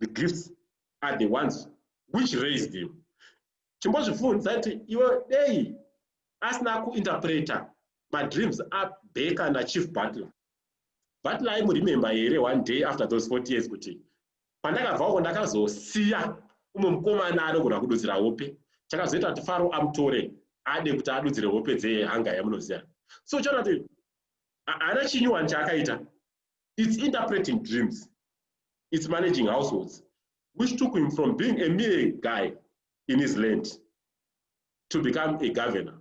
the gifts are the ones which raised him chimbozvibvunza kuti iwe dei asina kuinterpreta madreams abeka nachief butler butler aimuremembe here one day after those 40 years kuti pandakabvako ndakazosiya umwe mukomana anogona kududzira hope chakazoita kuti faro amutore ade kuti adudzire hope dzehanga yamunoziva so uchaona kuti haana chinyuwani chaakaita It's interpreting dreams. It's managing households, which took him from being a mere guy in his land to become a governor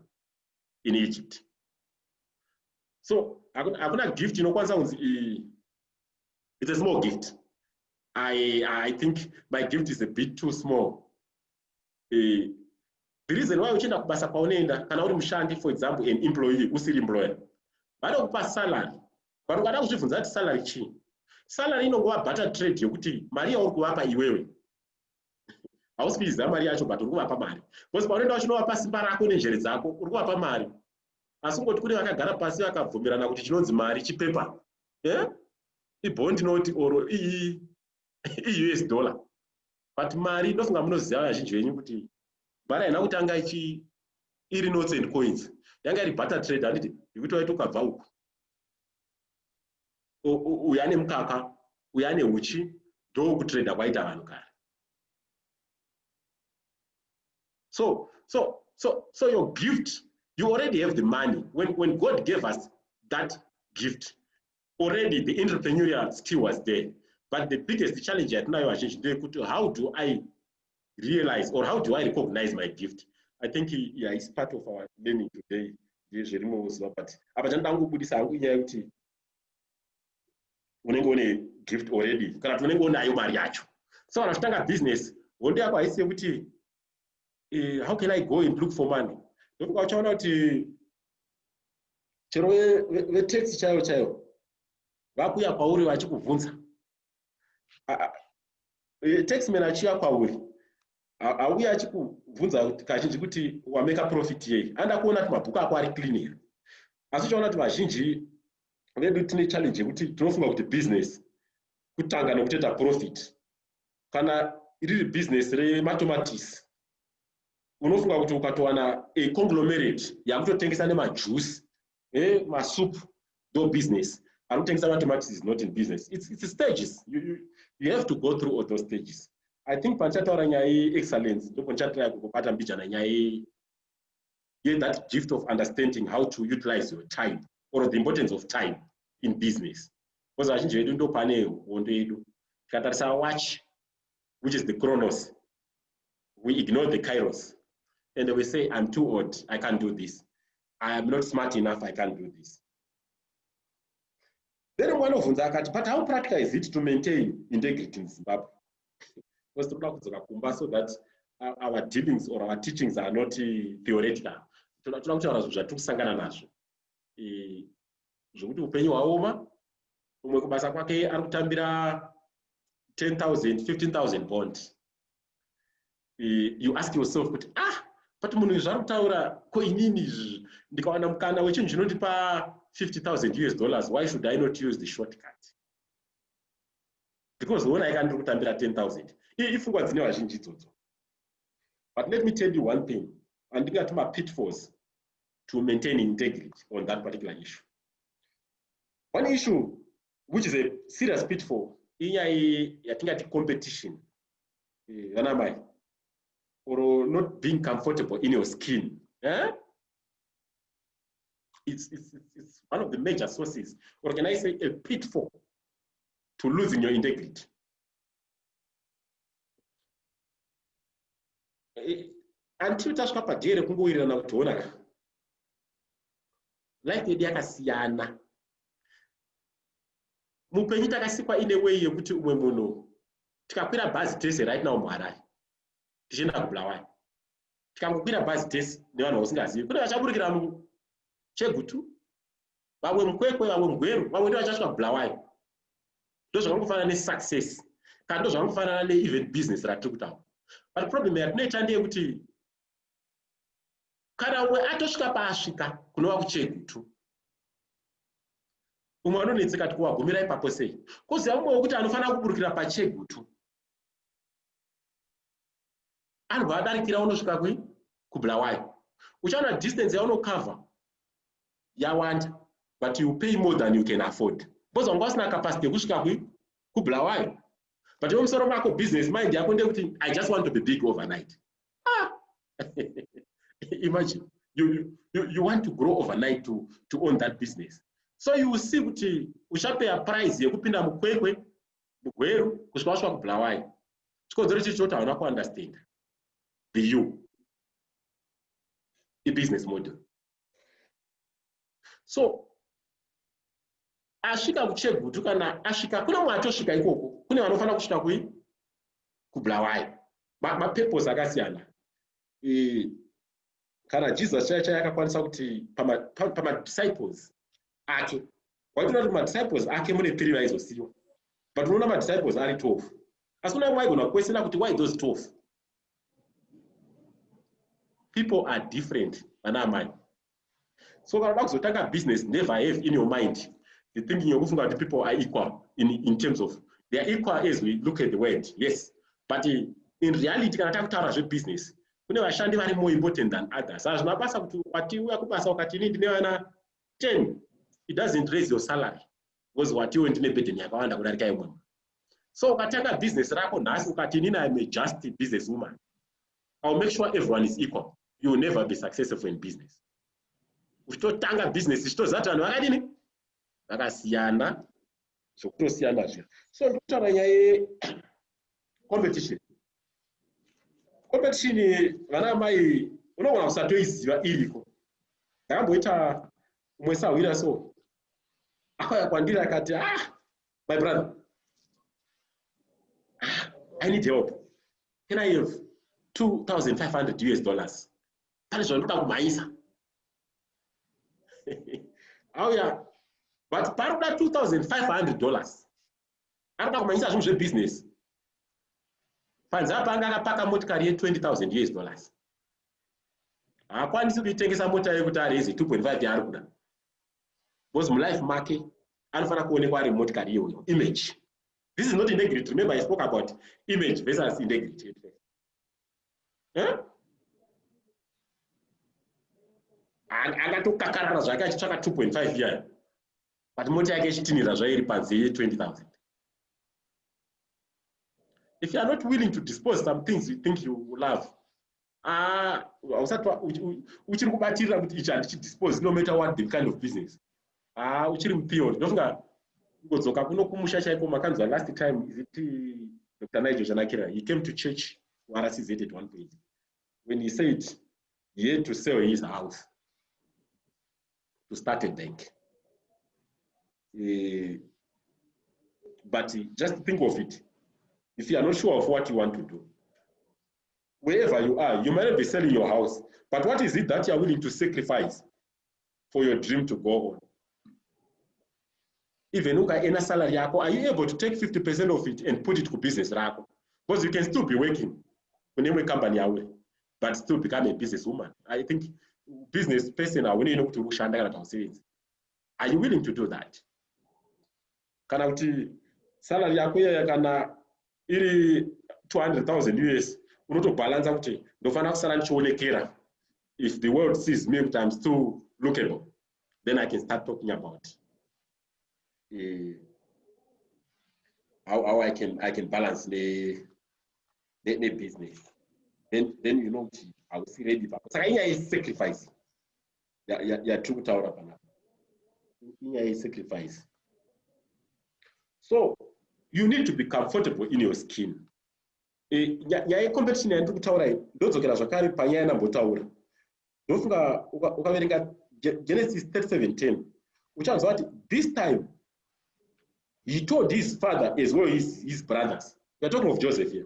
in Egypt. So, hakuna gift inokwanisa kunzi eh, it's a small gift. I, I think my gift is a bit too small. Uh, the reason why uchienda kubasa kwaunoenda kana uri mushandi for example an employee usiri employer vanokupa salary Vanhu vada kuzvibvunza kuti salary chii? Salary inongova butter trade yokuti mari yauri kuvapa iwewe hausi kuiziva mari yacho but uri kuvapa mari because paunoenda vachinovapa simba rako nenjere dzako uri kuvapa mari asi kungoti kune vakagara pasi vakabvumirana kuti chinonzi mari chipepa eh? ibond note or iyi ius dollar but mari ndofunga munoziva vazhinji venyu kuti mari haina kutanga ichi iri notes and coins yanga iri butter trade handiti yekuti waiti ukabva uku uyu ane mukaka uyu ane uchi ndokutrader kwaita vanhu kare so so so so your gift you already have the money when, when god gave us that gift already the entrepreneurial skill was there but the biggest challenge yatinayo vazhinji ndeyekuti how do i realize or how do i recognize my gift i think yeah, is part of our learning today ndezvirimowo zuva but apa chanoda kungobudisa hangu inyaya yekuti unenge une gift already kana kuti unenge unayo mari yacho so kana uchitanga business hondo yako haisi yekuti eh, how can i go and look for money ndokuka uchaona kuti chero vetaxi chaivo chaivo vakuya kwauri vachikubvunza eh, taxman achiya kwauri auya achikubvunza kazhinji kuti wameka profit yei anda kuona kuti mabhuku ako ari clean here asi uchaona kuti vazhinji vedu tine challenge yekuti tinofunga kuti business kutanga nekutoita profit kana riri business rematomatisi unofunga kuti ukatowana a conglomerate yakutotengesa nemajuice eh, masup ndo business anotengesa matomatis is not in business it's, it's stages you, you, you have to go through all those stages i think pandichataura nyaya yeexcellence ndipo ndichatira kukubata mbijana nyaya ye that gift of understanding how to utilize your time or the importance of time in business because vazhinji vedu ndo pane hondo yedu tikatarisa watch which is the chronos we ignore the kairos and we say i'm too old i can't do this i am not smart enough i can't do this then mwana obvunza akati but how practical is it to maintain integrity in zimbabwe because toda kudzoka kumba so that uh, our dealings or our teachings are not uh, theoretical toda kutaura zvinhu zvatiri kusangana nazvo zvekuti upenyu hwaoma umwe kubasa kwake ari kutambira 10000 15000 bond eh, you ask yourself kuti ah but munhu izvi ari kutaura ko inini izvi ndikawana mukana wechinhu chinondipa 50000 us dollars why should i not use the short cut because wona ika ndiri kutambira 10000 ii ifungwa dzine vazhinji idzodzo but let me tell you one thing andingati mapitfalls to maintain integrity on that particular issue one issue which is a serious pitfall inyaya yatingati competition eh, vana eh, mai or not being comfortable in your skin eh? it's, it's, it's one of the major sources or can i say a pitfall to losing your integrity eh, until tasvika padhere kungowirirana kuti honaka life yedu yakasiyana mupenyu takasikwa ine way yekuti umwe munhu tikakwira bhazi tese right now muharare tichienda kubulawayo tikangokwira bhazi tese nevanhu vausingazivi kune vachaburikira muchegutu vamwe mukwekwe vamwe mugweru vamwe ndo vachasvika kubulawayo ndo zvakangofanana nesuccess kana ndo zvakangofanana neevent business ratiri kutaura but problem yatinoita ndeyekuti kana umwe atosvika paasvika kunova kuchegutu umwe anonetseka kuti kuwagumira ipapo sei koziva mumwe wekuti anofanira kuburukira pachegutu anobva adarikira unosvika kui kubulawayo uchaona distance yaunocover yawanda but you pay more than you can afford because wanga usina capacity yekusvika kui kubulawayo but iwe musoro mako business mind yako ndekuti i just want to be big overnight ah. imagine you, you, you want to grow overnight to, to own that business so you will see kuti uchapeya prize yekupinda mukwekwe mugweru kusvika wasvika kubulawayi chikonzero chiri choti hauna kuunderstanda be you ibusiness model so asvika kuchegutu kana asvika kune mwe atosvika ikoko kune vanofanira kusvika kui kubulawayi mapepos ma akasiyana e, kana jesus chaiya chaiya akakwanisa kuti pamadisciples pa, pa ake waitoona kuti madisciples ake mune three vaizosiyiwa but unoona madisciples ari twelve asi kuna mwaigona kukwesena kuti why those twelve people are different vana amai so kana uda kuzotanga business never have in your mind the thinking yokufunga kuti people are equal in, in terms of they are equal as we look at the word yes but in reality kana takutaura zvebusiness kune vashandi vari more important than others hazvina basa kuti wati uya kubasa ukati ini ndine vana 10 it doesn't raise your salary because watiwo ndine burden yakawanda kudarika yemwe so ukatanga business rako nhasi ukati inini im a just business woman iwill make sure everyone is equal you will never be successful in business uchitotanga business ichitoziva kuti vanhu vakadini vakasiyana zvokutosiyana zviya so ndikutaura nyaya yecompetition competition vana amai unogona kusatoiziva iriko ndakamboita umwe sahwira so akauya kwandiri akati ah my brother ah, i need help can i have 2500 us dollars pane zvandinoda kumhanyisa auya but pari kuda 2500 dollars ari kuda kumhanyisa zvinhu zvebusiness panze apa anga akapaka motikari ye20000 us dollars haakwanisi kuitengesa mota yekuti arezi 2.5 yaari kuda because mulife make anofanira kuonekwa ari motikari iyoyo image this is not integrity remember i spoke about image versus integrity eh? angatokakarara zvake achitsvaka 2.5 iyayo but mota yake ichitinhira zvairi panze ye 20000 if you are not willing to dispose some things you think you love Ah, hausati uchiri kubatirira kuti ichi handichidispose no matter what the kind of business ah uchiri mupion ndofunga kungodzoka kuno kumusha chaiko makanzwa last time is it uh, dr nigel zvanakira he came to church kurcz at one point when he said he had to sell his house to start a bank uh, but just think of it if you are not sure of what you want to do Wherever you are you might be selling your house but what is it that you are willing to sacrifice for your dream to go on. Even ukaena salary yako are you able to take 50% of it and put it kubusiness rako because you can still be working kune imwe company yauri but still become a business woman. I think business person haunei nokuti uri kushanda kana kuti hausevenzi. Are you willing to do that? Kana kuti salary yako iyaya kana iri 200,000 us unotobhalanza kuti ndofanira kusara ndichionekera if the world sees me kuti im still lookable then i can start talking about uh, how, how i can i can balance ne ne, ne business then then you know kuti hausi ready papo saka inyaya yesacrifice yatiri kutaura panapa inyaya yesacrifice so you need to be comfortable in your skin e, nyaya yecompetition yandiri kutaura iyi ndodzokera zvakare panyaya yandambotaura ndofunga ukaverenga genesis 3710 uchanzwa kuti this time he told his father as well his, his brothers weare talking of joseph here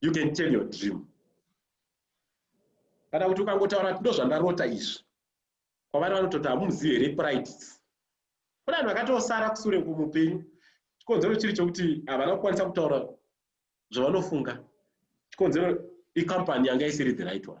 you can tell your dream kana kuti ukangotaura kuti ndozvandarota izvi kwavari vanototi hamumuzivi here pride kune vanhu vakatosara kusure kumupenyu chikonzero chiri chokuti havana kukwanisa kutaura zvavanofunga chikonzero icompany yanga isiri the right one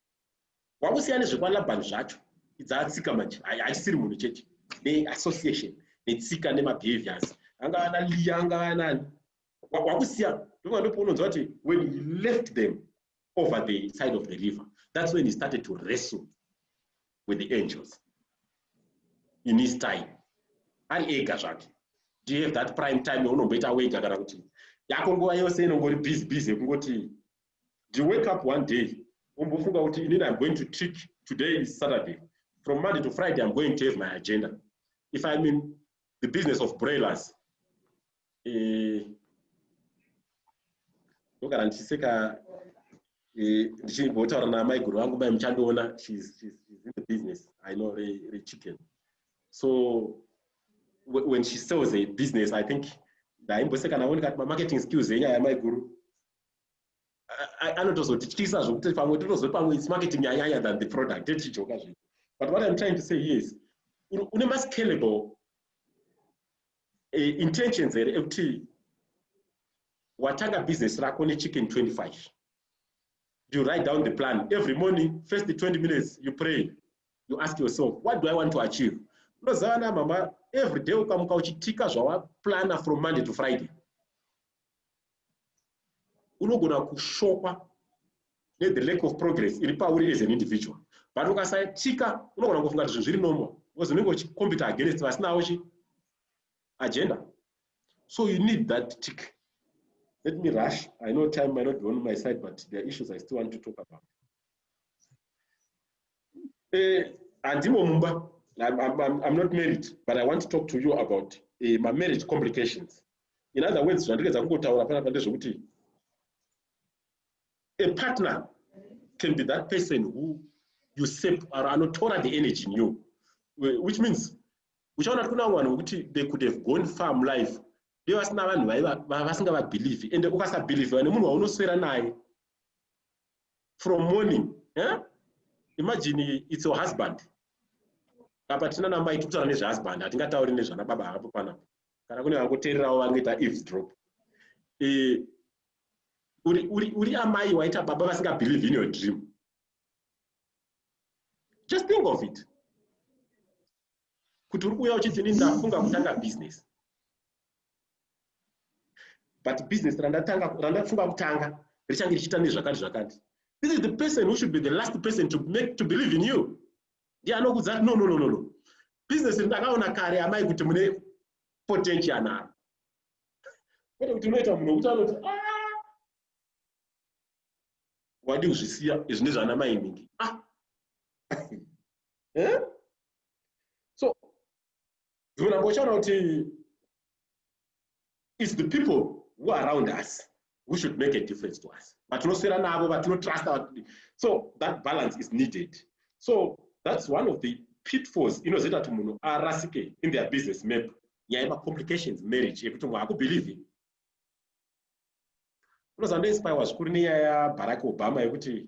wakusiya nezvekwalabhani zvacho idzatsika manje haisiri munhu chete neassociation netsika nemabehaviors anga ana liya anga anani wakusiya ndova ndopounonzwa kuti when he left them over the side of the river that's when he started to wrestle with the angels in his time ari ega zvake do you have that prime time yaunomboita wega kana kuti yako nguva yose inongori busy busy yekungoti Do you wake up one day wombofunga kuti inini I'm going to trick today is Saturday from Monday to Friday I'm going to have my agenda if I'm in the business of broilers eh, ndogara ndichiseka eh, ndichimbotaura namaiguru vangu mai muchandiona she's, she's, she's in the business I know re, re chicken so when she sells a business I think ndaimboseka navo ndikati mamarketing skills enyaya yamaiguru anotozotityisa zvokuti pamwe totozoti pamwe its marketing yanyanya than the product tetijoka zvii but what im trying to say yes une mascalable eh, intentions here ekuti watanga business rako nechicken 25 you write down the plan every morning first 20 minutes you pray you ask yourself what do i want to achieve unoziva na mama every day ukamuka uchitika zvawaplana from monday to friday unogona kushokwa ne the lack of progress iri pauri as an individual but ukasaitika unogona kufunga kuti zvinhu zviri normal because unenge uchicompita against vasinawo chi agenda so you need that tick let me rush i know time might not be on my side but there are issues i still want to talk about eh, handimo mumba I'm, I'm, I'm not married but i want to talk to you about uh, eh, my marriage complications In other words, zvandiredza kungotaura panapa ndezvekuti a partner can be that person who you save or anotora the energy in you which means uchaona kuti kuna vanhu vekuti they could have gone far mulife be vasina vanhu vasingavabhilivhi ende ukasabhilivhiwa nemunhu waunoswera naye from morning eh? imagine its your husband apa tinana mai tikutaura nezvehusband hatingatauri nezvana baba hapo panapa kana kune vakuteererawo vangoita eavesdrop eh, uri, uri, uri amai waita baba vasingabelieve in your dream just think of it kuti uri kuuya uchiti ini ndafunga kutanga business but business randatanga randafunga kutanga richange richiita nezvakati zvakati this is the person who should be the last person to make to believe in you ndiye anokudza kuti no no no no no business ndakaona kare amai kuti mune potential naro kwete kuti unoita munhu wekuti anoti ah! wadi kuzvisiya izvi ndezvana mai nhingi ah! eh? so dzimwe namba uchaona kuti is the people who are around us who should make a difference to us vatinoswera navo vatinotrusta so that balance is needed so that's one of the pitfalls inozoita kuti munhu arasike in their business map nyaya yemacomplications marriage yekuti munhu akubhilivhi unozandoinspirewa zvikuru nenyaya yabarack obama yekuti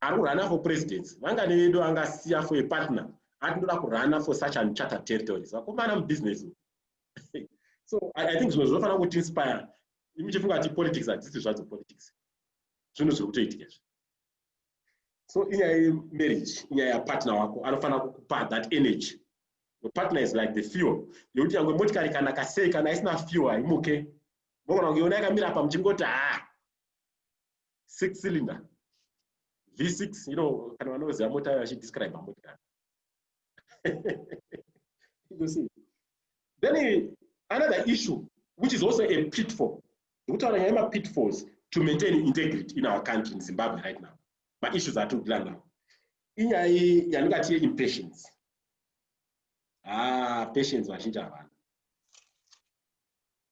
ari kurana for presidency vangani vedu angasiya for a partner ati ndoda kurana for such uncharted territories vakomana mubusiness so i, I think zvimwe zvinofanira kuti inspire imi chifunga kuti politics hadzisi zvadzo politics zvinhu zviri kutoitika izvi so inyaya yemarriage inyaya yapartner wako anofanira kukupa that energy the partner is like the fuel yekuti yange motikari kana kasei kana isina fuel haimuke mogona kunge yona yakamira pa muchingoti haa ah, six cylinder v6 you know kana vanoziva mota yayo vachidescribe motikari you see then another issue which is also a pitfall ndikutaura nyaya yemapitfalls to maintain integrity in our country in zimbabwe right now maissues atiri kudila nawo inyaya yandingati yeimpatience ah patience vazhinji havana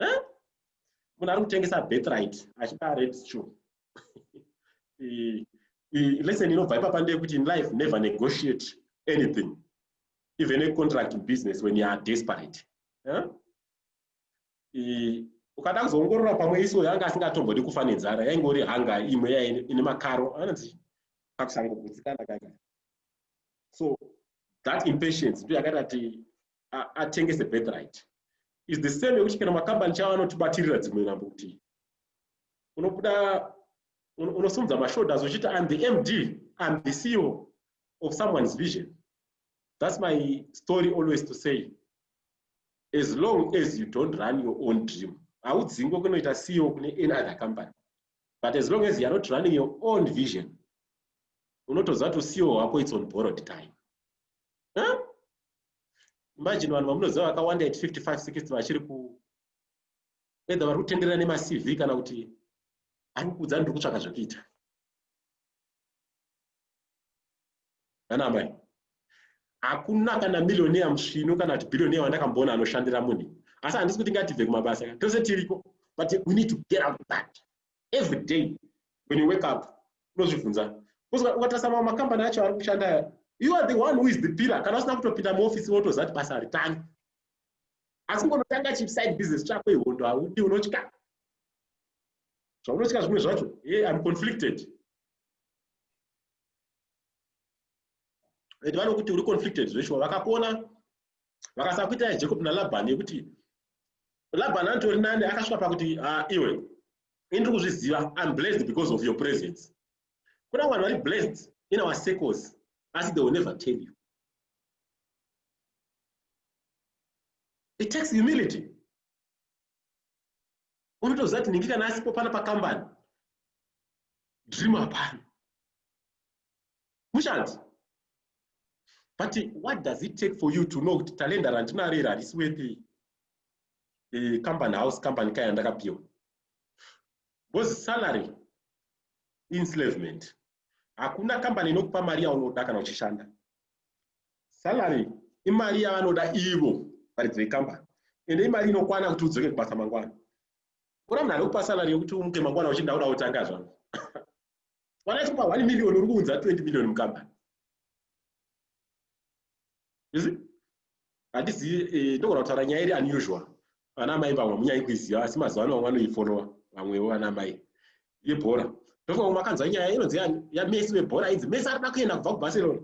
eh? munhu ari kutengesa birthright achida red stew lesson inobva ipapa ndeyekuti in life never negotiate anything even a contract in business when you are desperate eh? ukada kuzoongorora pamwe iso yanga asingatombodi kufa nenzara yaingori hanga imwe ya ine makaro anonzi kakusangogutsikana kaka so that impatience ndo yakati ati atengese birthright is the same yekuti kana makambani chavo anotibatirira dzimwe nhambo kuti unobuda unosimudza mashoulders uchiti im the md im the ceo of someone's vision that's my story always to say as long as you don't run your own dream haudzingwe kunoita ceo kune any other company but as long as youare not running your own vision unotoziva kuti ceo wako its on borrowed time huh? imagine vanhu vamunoziva vakawanda at 55 60 vachiri ku edha vari kutenderera nemacv kana kuti ari kukuudza ndiri kutsvaka zvekuita anamai hakuna kana millioneya musvinu kana kuti billioneya wandakamboona anoshandira munhu asi handisi kuti ngatibve kumabasa tose tiriko but we need to get out of that every day when you wake up unozvibvunza kuzwa ukatarisa mamwe makambani acho ari kushanda aya you are the one who is the pillar kana usina kutopinda muofisi wotoziva kuti basa haritangi asi ngonotanga chiside business chako ihondo haudi unotya zvaunotya zvimwe zvacho hey, im conflicted vanokuti uri conflicted zveshuwa vakakuona vakasa kuita yajacob nalabhani yekuti labhani anotori nani akasvika pakuti ah, iwe ini ndiri kuzviziva im blessed because of your presence kuna vanhu vari blessed in our circles asi they will never tell you it takes humility unotoziva kuti nhingi kana asipo pana pakambani dream hapana Mushandi. But what does it take for you to know kuti talenda randinaro iri harisi wepi eh, company house company kaya ndakapiwa? Because salary enslavement. Hakuna company inokupa mari yaunoda kana uchishanda. Salary imari yavanoda ivo varidzi vecompany ende imari inokwana kuti udzoke kubasa mangwana. Ora munhu anokupa salary yokuti umuke mangwana uchinda uda utanga zvako. Wakaita pa 1 million uri kuunza 20 million mukambani. You see? Handisi eh, ndogona kutaura nyaya iri unusual. Vana mai vamwe munyai kuiziva asi mazuva ano vamwe vanoifollowa vamwewo vana mai yebhora. Ndofika makanzwa nyaya inonzi yaMessi vebhora idzi. Messi ari kuenda kubva kuBarcelona.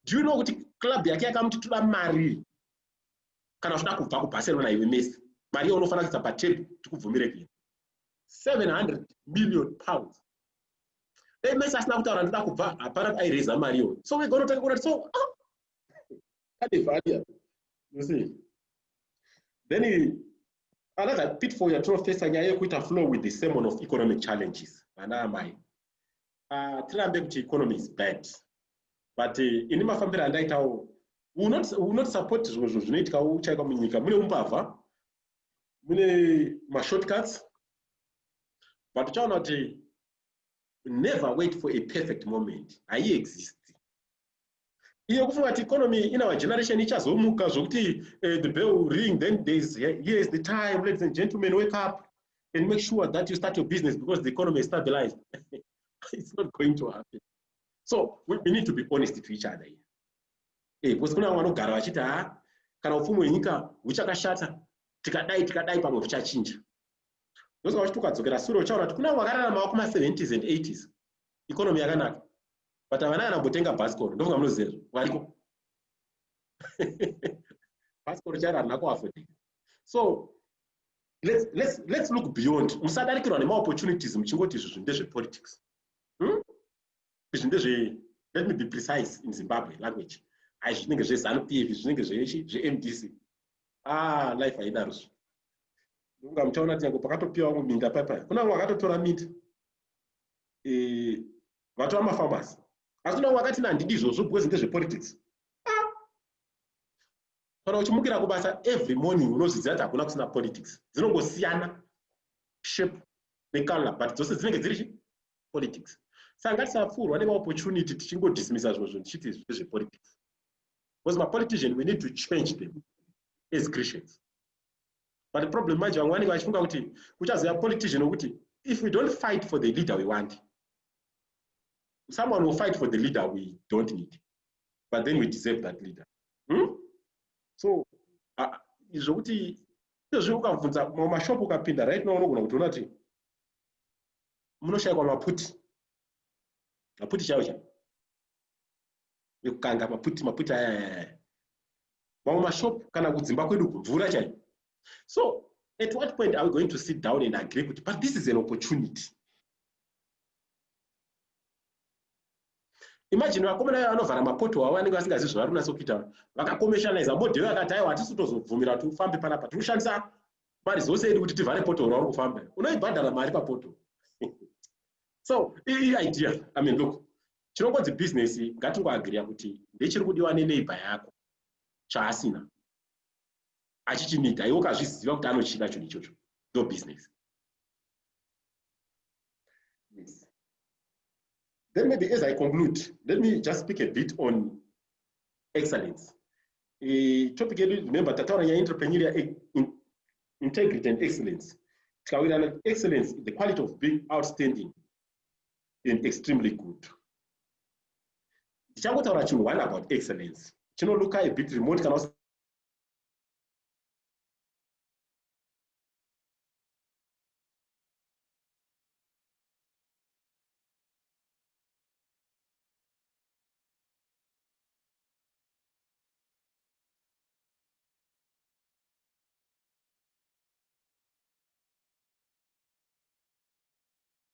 Do you know kuti club yake yakamuti toda mari kana uchida kubva kuBarcelona iwe Messi. Mari yaunofanira kuisa patable tikubvumire kuenda. 700 million pounds dai mese asina kutaura ndoda kubva hapana aireza mari yo so wegona kutanga kuona so ah! kane value you see then another pitfall yatinofesa nyaya yekuita flow with the sermon of economic challenges vana amai ah, tirambe kuti economy is bad but eh, ini mafambiro andaitawo unot support zvimwe zvinhu zvinoitika uchaika munyika mune umbavha mune mashortcuts but uchaona kuti never wait for a perfect moment haiexist iyo kufunga kuti economy in our generation ichazomuka zvokuti uh, the bell ring then thereis here is the time ladies and gentlemen wake up and make sure that you start your business because the economy is stabilized it's not going to happen so we, we need to be honest to each other here eh, because kuna vamwe vanogara vachiti ha ah, kana upfumi hwenyika huchakashata tikadai tikadai pamwe huchachinja ndozva vachiti ukadzokera sure uchaona kuti kuna vakararamawo kuma 70s and 80s economy yakanaka but havana kana kutenga bhasikoro ndofunga munoziva izvo variko bhasikoro chairo harina kuafodika so let's, let's, let's look beyond musadarikirwa nemaopportunities muchingoti izvi zvinhu ndezvepolitics hmm? izvi ndezve let me be precise in zimbabwe language hai zvinenge zvezanu pf zvinenge zvemdc ah life haidaro zvi ndokunga muchaona tinyange pakatopiwa vamwe minda paipai kuna vamwe vakatotora minda eh, vatova mafamasi asi kuna vamwe vakati na handidi izvozvo because ndezvepolitics ah! kana uchimukira kubasa every morning unozviziva kuti hakuna kusina politics dzinongosiyana shape necolor but dzose dzinenge dziri chi politics saka ngatisapfuurwa nemaopportunity tichingodismisa zvimwe zvinhu tichiti zvezvepolitics because mapolitician we need to change them as christians but problem manje vamwe vanenge vachifunga kuti kuchazova politician wekuti if we don't fight for the leader we want someone will fight for the leader we don't need but then we deserve that leader hmm? so uh, zvokuti izvozvi ukabvunza mashop ukapinda right now unogona kuti una kuti munoshayikwa maputi maputi chaiwo chaiwo yekukanga maputi maputi ayayaya mamwe mashop kana kudzimba kwedu kumvura chai so at what point are we going to sit down and agree kuti but this is an opportunity imagine vakomana vaya vanovhara mapoto avo vanenge vasingazivi zvavari kunatsa kuita vakakomeshanaiza modhero akati aiwa hatisi kutozobvumira kuti ufambe panapa tiri kushandisa mari dzose edu kuti tivhare poto rauri kufamba unoibhadhara mari papoto so ii idea i mean look Tinongonzi business ngatingoagreeya kuti ndechiri kudiwa neneighbor yako chaasina achichinida iwe ukazviziva kuti anochida chinhu ichocho ndo business yes. then maybe as i conclude let me just speak a bit on excellence e, topic yedu remember tataura nyaya entrepreneurial e, in, integrity and excellence tikawirana excellence the quality of being outstanding and extremely good ndichangotaura chinhu one about excellence chinoluka a bit remote kana